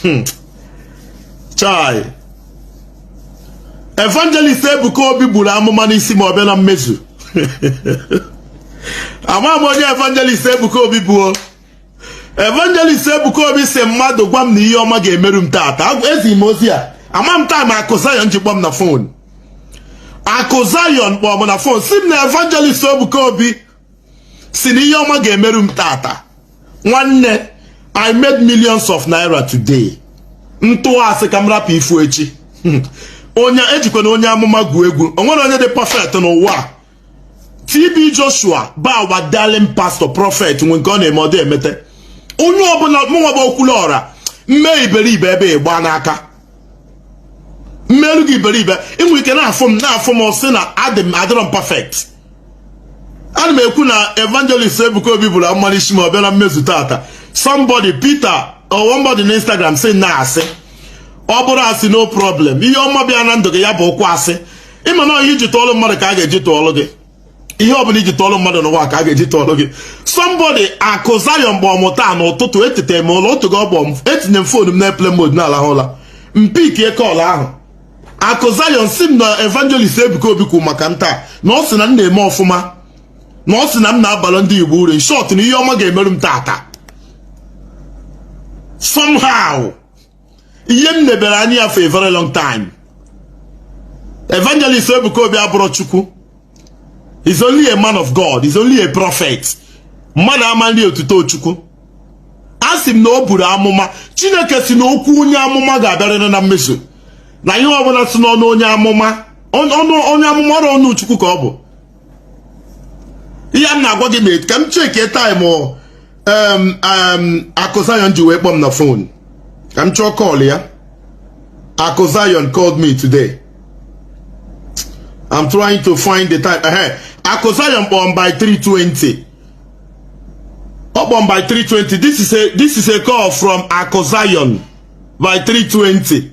hmm. chai evangelist ebuka obi buru amụma n'isi ma ọ bịa na mmezu ama m onye evangelist ebuka obi bụ o evangelist ebuka obi si mmadụ gwa m na ihe ọma ga-emeru m taata ezi m ozi a ama m time akụ zion ji kpọọ m na fon akụ zion kpọọ m na fon si m na evangelist ebuka obi si na ihe ọma ga-emerụ m taata nwanne i made millions of naira today m tụọ asị ka m rapụ ịfụ echi hmm. onye ejikwana onye amụma gwu egwu o nwere onye dị perfect n'ụwa TB Joshua bụ our darling pastor prọfet nwe nke ọ na-eme ọ dị emete onye ọbụla mụnwa bụ Okwuluọra m mee iberibe ebe ị gba n'aka m meerụ gị iberibe ị nwe ike na-afụ m na-afụ m sị na adị m adịrọ m perfect ana m ekwu na evangelist Ebuka Obi buru amụma n'isi ma ọ bịa na mmezu taata somebody Peter or somebody na Instagram si na asị ọ bụrụ asị no problem ihe ọma bịa na ndụ gị ya bụ okwu asị ị ma na ihe i ji tụọlụ mmadụ ka a ga-eji tụọlụ gị ihe ọbụla i ji tụọlụ mmadụ n'ụwa ka a ga-eji tụọlụ gị somebody akụ Zion kpọọ m taa n'ụtụtụ etete m ụla otu gị ọ kpọọ etinyere m fon m na airplane mode na-alahụ ụla m pickie call ahụ akụ Zion si m na evangelist Ebuka Obi kwuru maka m taa na ọ sị na m na-eme ọfụma na ọ sị na m na-abara ndị Igbo uru in short na ihe ọma ga-emerụ m taata somehow ihe m nebere anya ya for a very long time evangelist Ebuka Obi abụrọ Chukwu he's only a man of God he's only a prophet mmadụ ama eri otuto chukwu asị m na o buru amụma chineke si na okwu onye amụma ga-abịarịrị na mmezu na ihe ọbụla si n'ọnụ onye amụma onye amụma ọrọ ọnụ chukwu ka ọ bụ ihe m na-agwa gị mee ka m checkie time akụ zion ji wee kpọọ m na fon ka m chọọ call ya akụ zion called me today I'm trying to find the time. Ehe, Akụ Zion kpọọ m by 320. Ọ kpọọ m by 320. This is a this is a call from Akụ Zion by 320.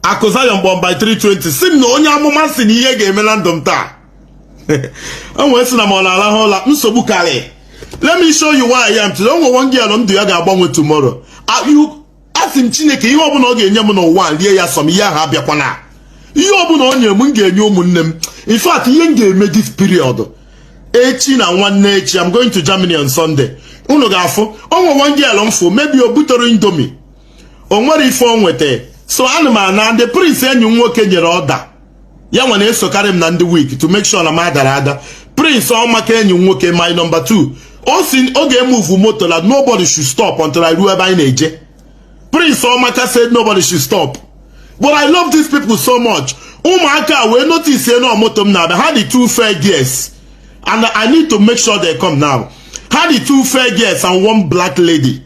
Akụ Zion kpọọ m by 320. Si m na onye amụma si na ihe ga-eme na ndụ m taa. O wee sị na m nọ na-arahụ ụla nsogbu karị. Let me show you where I am today. O nwe one girl ndụ ya ga-agbanwe tomorrow. Are you asị m chineke ihe ọbụla ọ ga-enye m n'ụwa m rie ya sọ m ihe ahụ abịakwana ihe ọbụla ọ nyere m m ga-enye ụmụnne m in fact ihe m ga-eme this period echi na nwanne echi I'm going to Germany on Sunday unu ga-afụ o nwe one girl m fụ maybe o butere indomie o nwere ife o nweta so ana m ana De Prince enyi m nwoke nyere order ya nwa na-esokarị m na ndị week to make sure na m adara ada prince ọmaka enyi m nwoke my number two ọ sị ọ ga-emove moto na nobody should stop until I ruo ebe anyị na-eje prince ọmaka said nobody should stop but I love these people so much ụmụaka wee notice na moto m na-abịa ha dị two fair girls and I need to make sure they come now ha dị two fair girls and one black lady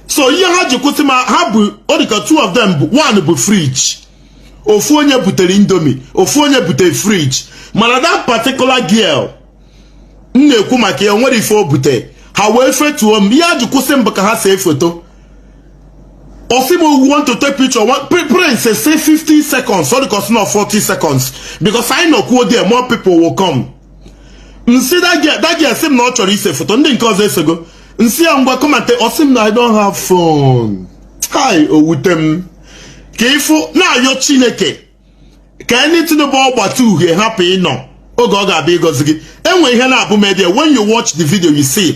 so ihe ha ji kwụsị m ha bụ ọ dịka two of them one bu fridge ofu onye butere indomie ofu onye butere fridge mana that particular girl m na-ekwu maka ya nwerọ ife o bute ha wee fetuo m ihe ha ji kwụsị m bụ ka ha see foto ọ sị m oga we want to take picture prince say 50 seconds ọ dịka ọ sị na 40 seconds because anyị nọkwuo there more people will come m sị that girl asị m na ọ chọrọ ise foto ndị nke ọzọ esego m sị ya ngwa come and take ọ sị m na i don't have phone hai o wute m ka ị fụ na-ayọ chineke ka anything bụ ọgbata uhie hapụ ịnọ oge ọ ga-abịa ịgọzi gị enwe ihe na-abụ media when you watch the video you see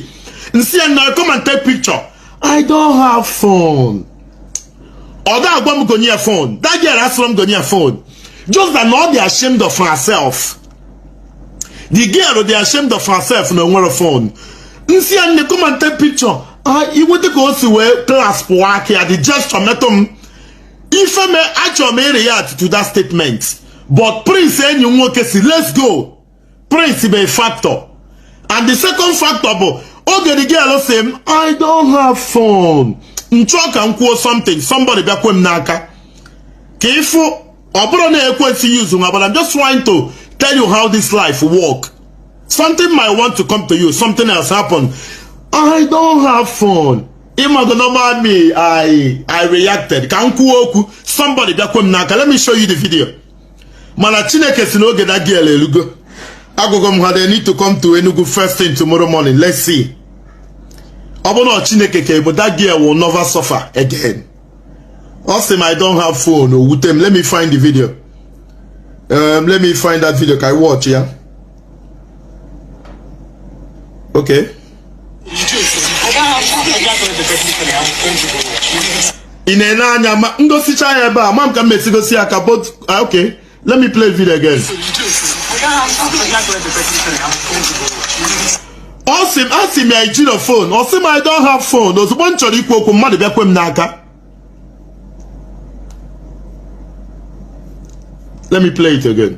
m sị ya nne come and take picture i don't have phone ọ da agwa m gonye ya phone that girl asịrọ m gonye ya phone just that na ọ dị ashamed of herself the girl dị ashamed of herself na o nwerọ phone m sị ya nne come and take picture inweta ka o si wee clasp aka ya the gesture metụ m ife me achọrọ m ịreact to that statement but prince enyi m nwoke sị let's go prince bụ a factor and the second factor bụ oge the girl sị m i don't have phone m chọọ ka m kwuo something somebody bịa kwe m n'aka ka ị fụ ọ bụrọ na excuse nwa but I'm just trying to tell you how this life work something might want to come to you something else happen I don't have phone ị mago normal me I I reacted ka m kwuo okwu somebody bịa kwe m n'aka let me show you the video mana Chineke sị n'oge that girl elugo agwago m ha they need to come to Enugu first thing tomorrow morning let's see ọ bụrụ na Chineke ka ọ bụ that girl will never suffer again ọ sị m i don't have phone o wute m let me find the video um, let me find that video ka i watch ya okay ị na-ene anya ma m gosicha ya ebe a ma m ka m mesi gosi ya ka but ah, okay Let me play the video again. ọ sị m asị m ya i jirọ phone ọ sị m I don't have phone ozugbo m chọrọ ikwu okwu mmadụ bịa kwe m n'aka let me play it again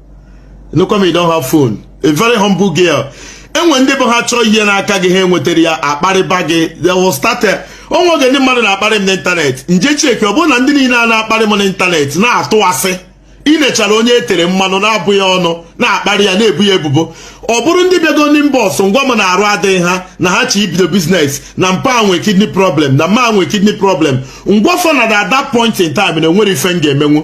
How come you don't have phone. A very humble girl. e nwee ndị bụ ha chọọ ihe n'aka gị ha enwetarọ ya akparịba gị they will start o nwee oge ndị mmadụ na-akparị m n'ịntanetị m je check ọ bụrụ na ndị niile a na-akparị m n'ịntanetị na-atụ asị i nechara onye e tere mmanụ na-abụ ya ọnụ na-akparị ya na-ebu ya ebubo ọ bụrụ ndị bịago n'inbox m gwa m na arụ adịghị ha na ha chọ ibido business na mpa nwe kidney problem na mma nwe kidney problem m gwa fa na at that point in time na enwerọ ife m ga-emenwu